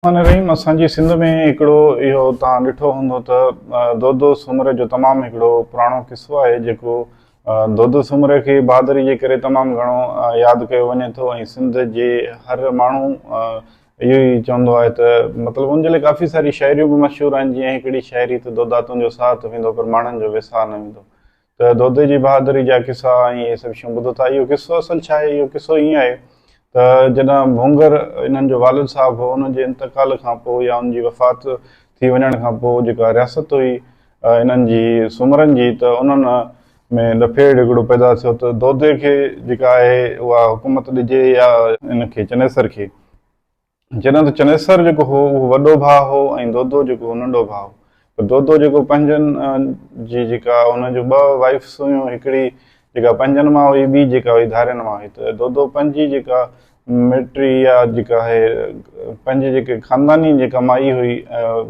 رحمان رحيم اسان جي سنڌ ۾ هڪڙو اهو توهان ڏٺو هوندو ته دودو سومري جو تمام هڪڙو پراڻو قصو آهي جيڪو دودو سومري کي بهادري جي ڪري تمام گهڻو ياد ڪيو وڃي ٿو ۽ سنڌ جي هر ماڻهو اهو ئي چوندو آهي ته مطلب ان جي لاء ڪافي ساري شاعريون به مشهور آهن جيئن هڪڙي شاعري ته دودا تنهنجو ساهه ته ويندو پر ماڻهن جو ويساهه نه ويندو ته دودي جي بهادري جا قصا ۽ اهي سڀ شيون ٻڌو ٿا. اهو قصو اصل ڇا آهي؟ اهو قصو ائين آهي ته جڏهن ڀونگر انهن جو والد صاحب هو، ان جي انتقال کان پوء يا ان جي وفات ٿي وڃڻ کان پوء جيڪا رياست هئي انهن جي سومرن جي ته انهن ۾ لڦيڙ هڪڙو پيدا ٿيو ته دودي کي جيڪا آهي اها حڪومت ڏجي يا ان کي چنيسر کي. جڏهن ته چنيسر جيڪو هو اهو وڏو ڀاء هو ۽ دودو جيڪو هو ننڍو ڀاء هو پر دودو جيڪو پنهنجن جي جيڪا ان جون ٻه وائفس هيون هڪڙي جيڪا پنهنجن مان هئي ٻي جيڪا هئي ڌارين مان هئي ته دودو پنهنجي جيڪا مٽري يا جيڪا هي پنهنجي جيڪي خانداني جيڪا مائي هئي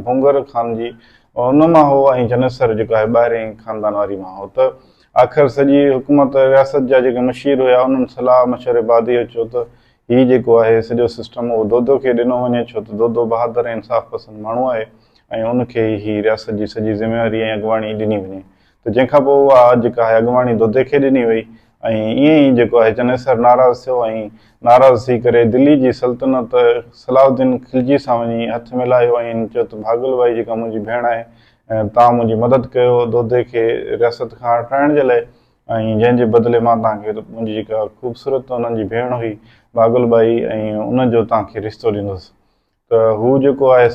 ڀونگر خان جي ان مان هو ۽ چنيسر جيڪا هي ٻاهرين خاندان واري مان هو ته آخر سڄي حڪومت رياست جا جيڪي مشير هيا انهن صلاح مشوري بعد اهو چيو ته هي جيڪو آهي سڄو سسٽم اهو دودو کي ڏنو وڃي ڇو ته دودو بهادر ۽ انصاف پسند ماڻهو آهي ۽ ان کي ئي هي رياست جي سڄي ذميواري ۽ اڳواڻي ڏني وڃي ته جنهن کان پوء اها جيڪا آهي اڳواڻي دودي کي ڏني وئي ۽ ائين ئي جيڪو آهي چنيسر ناراض ٿيو ۽ ناراض ٿي ڪري دلي جي سلطنت صلاح الدين خلجي سان وڃي هٿ ملايو ۽ چيو ته ڀاڳل ٻائي جيڪا منهنجي ڀيڻ آهي تان منهنجي مدد ڪيو دودي کي رياست کان هٽرائڻ جي لاء ۽ جنهن جي بدلي مان توهان کي منهنجي جيڪا خوبصورت انهن جي ڀيڻ هئي باگل ٻائي ۽ ان جو توهان کي رشتو ڏيندس. ته هو جيڪو آهي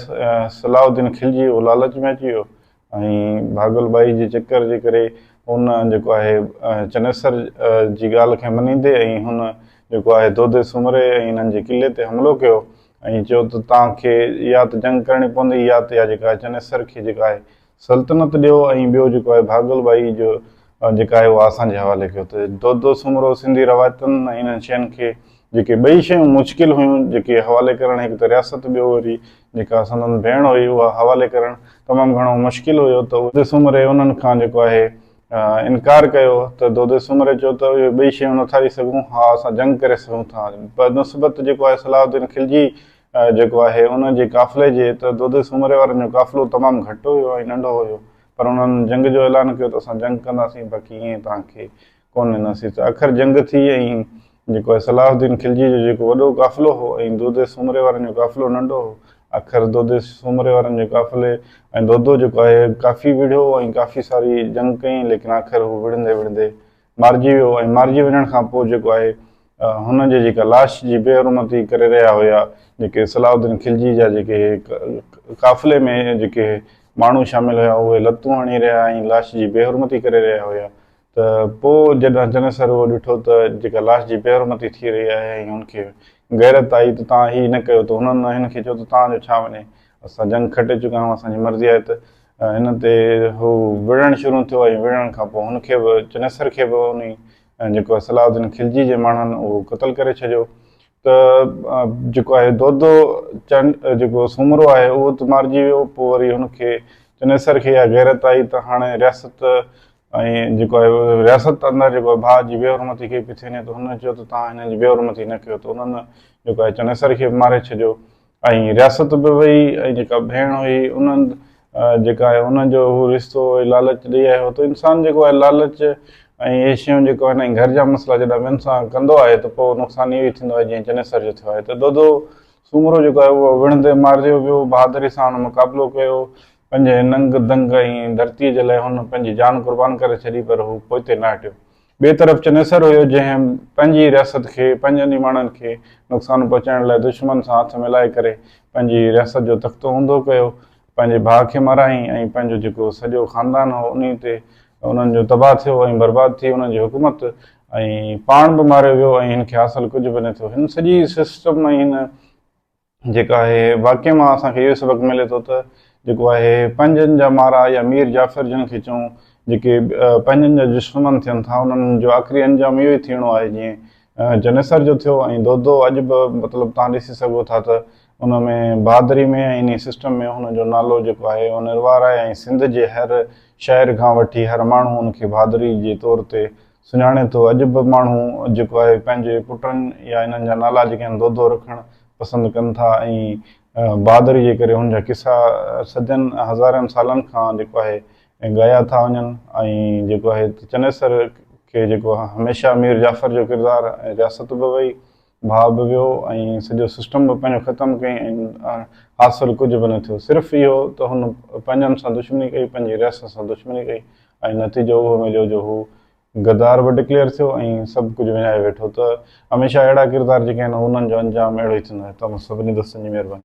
صلاح الدين کلجي اهو لالچ ۾ اچي ويو ۽ باگل ٻائي جي چڪر جي ڪري هن جيڪو آهي چنيسر جي ڳالهه کي مڃيندي ۽ هن جيڪو آهي دودي سومري ۽ انهن جي قلعي تي حملو ڪيو ۽ چيو ته توهان کي يا ته جنگ ڪرڻي پوندي يا ته اها جيڪا آهي چنيسر کي جيڪا آهي سلطنت ڏيو ۽ ٻيو جيڪو آهي ڀاڳل ٻائي جو جيڪا آهي اها اسان جي حوالي ڪيو ته دودو سومرو سنڌي روايتن ۽ انهن شين کي جيڪي ٻئي شيون مشڪل هيون جيڪي حوالي ڪرڻ هڪ ته رياست ٻيو وري جيڪا سندن ڀيڻ هئي اها حوالي ڪرڻ تمام گهڻو مشڪل هيو ته دودي سومري انهن کان جيڪو آهي انڪار ڪيو ته دودي سومري چيو ته اهي ٻئي شيون نٿا ڏئي سگهون ها اسان جنگ ڪري سگهون ٿا بنسبت جيڪو آهي صلاح الدين خلجي جيڪو آهي ان جي قافلي جي ته دودي سومري وارن جو قافلو تمام گهٽ هيو ۽ ننڍو هيو پر انهن جنگ جو اعلان ڪيو ته اسان جنگ ڪنداسين باقي ائين توهان کي ڪونه ڏينداسين ته اکر جنگ ٿي ۽ جيڪو آهي صلاح الدين خلجي جو جيڪو وڏو قافلو هو ۽ دودي سومري وارن جو قافلو ننڍو هو اکر دودي سومري وارن جي قافلي ۽ دودو جيڪو آهي ڪافي وڙهيو ۽ ڪافي ساري جنگ ڪئي ليڪن آخر هو وڙهندي وڙهندي مارجي ويو ۽ مارجي وڃڻ کان پوء جيڪو آهي هن جي جيڪا لاش جي بي حرمتي ڪري رهيا هيا جيڪي صلاح الدين خلجي جا جيڪي قافلي ۾ جيڪي ماڻهو شامل هيا اهي لتون هڻي رهيا ۽ لاش جي بي حرمتي ڪري رهيا هيا ته پوء جڏهن جني سر اهو ڏٺو ته جيڪا لاش جي بي حرمتي ٿي رهي آهي ۽ هن کي غيرت آئي ته توهان هي نه ڪيو ته هنن هن کي چيو ته توهان جو ڇا وڃي اسان جنگ کٽي چڪا آهيون اسان جي مرضي آهي ته ان تي هو وڙهڻ شروع ٿيو ۽ وڙهڻ کان پوء هن کي به چنيسر کي به انهي جيڪو صلاح الدين خلجي جي ماڻهن اهو قتل ڪري ڇڏيو ته جيڪو آهي دودو چنڊ جيڪو سومرو آهي اهو ته مارجي ويو پوء وري هن کي چنيسر کي اها غيرت آئي ته هاڻي رياست ۽ جيڪو آهي رياست اندر جيڪو ڀاء جي بي حرمتي ڪئي پئي ٿي وڃي ته هن چيو ته توهان هنن جي بي حرمتي نه ڪيو ته انهن جيڪو آهي چنيسر کي به ماري ڇڏيو ۽ رياست به وئي ۽ جيڪا ڀيڻ هئي انهن جيڪا آهي انهن جو هو رشتو هو لالچ ڏئي آهي هو ته انسان جيڪو آهي لالچ ۽ اهي شيون جيڪو آهن ۽ گهر جا مسئلا جڏهن ٻين سان ڪندو آهي ته پوء نقصان اهو ئي ٿيندو آهي جيئن چنيسر جو ٿيو آهي ته دودو سومرو جيڪو آهي اهو وڻ تي مارجيو ويو بهادري سان هن مقابلو ڪيو پنهنجي ننگ دنگ ۽ ڌرتيء جي لاء هن پنهنجي جان قربان ڪري ڇڏي پر هو پوئتي نه هٽيو ٻئي طرف چنيسر هيو جنهن پنهنجي رياست کي پنهنجن ئي ماڻهن کي نقصان پهچائڻ لاء دشمن سان هٿ ملائي ڪري پنهنجي رياست جو تختو اونڌو ڪيو، پنهنجي ڀاء کي مارايائين ۽ پنهنجو جيڪو سڄو خاندان هو انهي تي انهن جو تباهه ٿيو ۽ برباد ٿي انهن جي حڪومت ۽ پاڻ به ماريو ويو ۽ هن کي حاصل ڪجهه به نه ٿيو هن سڄي سسٽم ۽ هن جيڪا آهي، واقعي مان اسان کي اهو سبق ملي ٿو ته جيڪو آهي پنهنجن جا مارا يا مير جعفر جن کي چئون جيڪي پنهنجن جا دشمن ٿين ٿا انهن جو آخري انجام اهو ئي ٿيڻو آهي جيئن چنيسر جو ٿيو ۽ دودو اڄ به مطلب تان ڏسي سگهو ٿا ته ان ۾ بهادري ۾ ۽ انهي سسٽم ۾ هن جو نالو جيڪو آهي اهو نروار آهي ۽ سنڌ جي هر شاعر کان وٺي هر ماڻهو ان کي بهادري جي طور تي سڃاڻي ٿو. اڄ به ماڻهو جيڪو آهي پنهنجي پٽن يا انهن جا نالا جيڪي آهن دودو رکڻ پسند ڪن ٿا ۽ بهادري جي ڪري هن جا قصا صدين هزارين سالن کان جيڪو آهي ڳايا ٿا وڃن ۽ جيڪو آهي چنيسر کي جيڪو هميشه مير جعفر جو ڪردار ۽ رياست به وئي ڀاء به ويو ۽ سڄو سسٽم به پنهنجو ختم ڪيائين ۽ حاصل ڪجهه به نه ٿيو. صرف اهو ته هن پنهنجن سان دشمني ڪئي، پنهنجي رياست سان دشمني ڪئي ۽ نتيجو اهو مليو جو هو غدار به ڊڪليئر ٿيو ۽ سڀ ڪجهه وڃائي ويٺو ته هميشه اهڙا ڪردار جيڪي آهن انهن جو انجام اهڙو ئي ٿيندو آهي. توهان سڀني دوستن جي مهرباني.